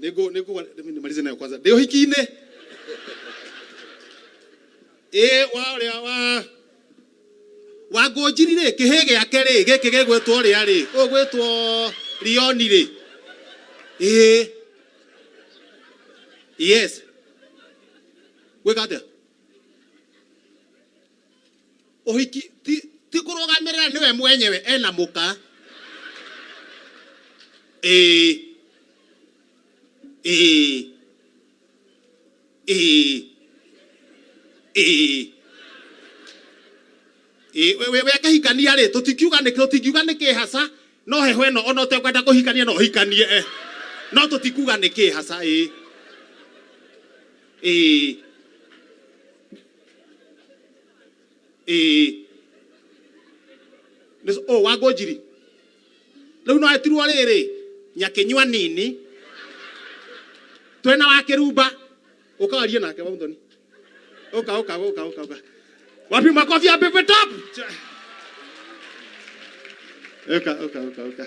Nĩngũ nĩngũ nimalize nayo kwanza. Ndĩ ũhiki-inĩ. Ĩĩ wa ũrĩa wa wa ngũnjiri rĩ kĩhĩ gĩake rĩ gĩkĩ gĩgwĩtwo rĩa rĩ ũgwĩtwo Rioni rĩ. Ĩĩ. Yes. Gwĩka atĩa? ũhiki ti ti kũrũgamĩrĩra nĩwe mwenyewe ena mũka ĩĩ ĩĩ ĩĩ ĩĩ Ĩĩ, we- we- we akahikania rĩ tũtikiuga nĩ tũtingiuga nĩ kĩhaca no heho ĩno ona ũtekwenda kũhikania no ũhikanie eh. no tũtikuga nĩ kĩhaca ĩĩ ĩĩ ĩĩ Nĩ- oh wangũ njiri rĩu no etirwo rĩrĩ nyakĩnyua nini twena wa kĩrumba ũkawarie nake waunthoni ũka ũka ũka ũka ũka wapi makobi ya pepe top ũka ũka ũka ũka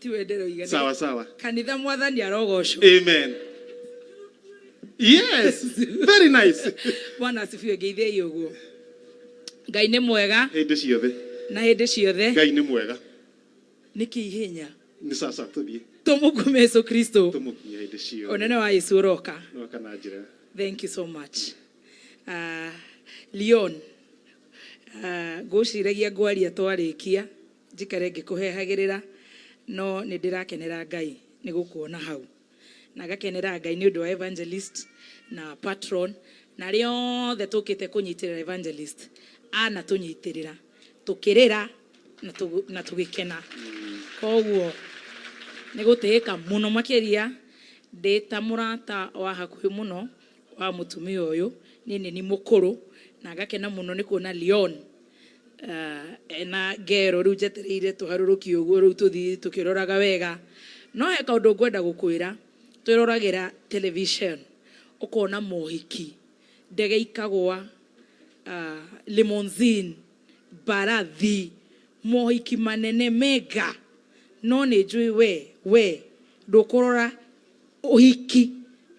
tiwe ndĩroiga sawa sawa kanitha mwathani arogocwo amen yes very nice bwana asifiwe ngeithei ũguo ngai nĩ mwega hĩndĩ ciothe na hĩndĩ ciothe ngai nĩ mwega nĩkĩ ihenya nĩ sasa tũthiĩ tũmũkume yesu kristo tũmũkinyia hĩndĩ ciothe ũnene wa yesu ũroka noka na njĩra thank you so much uh, leon uh, ngũciragia ngwaria twarĩkia Njikare ngĩkũhehagĩrĩra, no nĩ ndĩrakenera Ngai nĩ gũkuona hau. Na ngakenera Ngai nĩ ũndũ wa Evangelist na Patron na arĩa othe tũkĩte kũnyitĩrĩra Evangelist anatũnyitĩrĩra tũkĩrĩra na tũgĩkena. Kwoguo nĩ gũtĩĩka mũno makĩria ndĩ ta mũrata wa hakuhĩ mũno wa mũtumia ũyũ nĩ nyeni mũkũrũ na ngakena mũno nĩ kuona Leon ena ngero rĩu njetereire tũharũrũki ũguo rĩu tũthi tũkĩroraga wega. No he kaũndũ ngwenda gũkwĩra, twĩroragĩra television ũkona mohiki, ndege ikagwa, limousine, mbarathi, mohiki manene mega no nĩ njũĩ we we ndũkũrora ũhiki.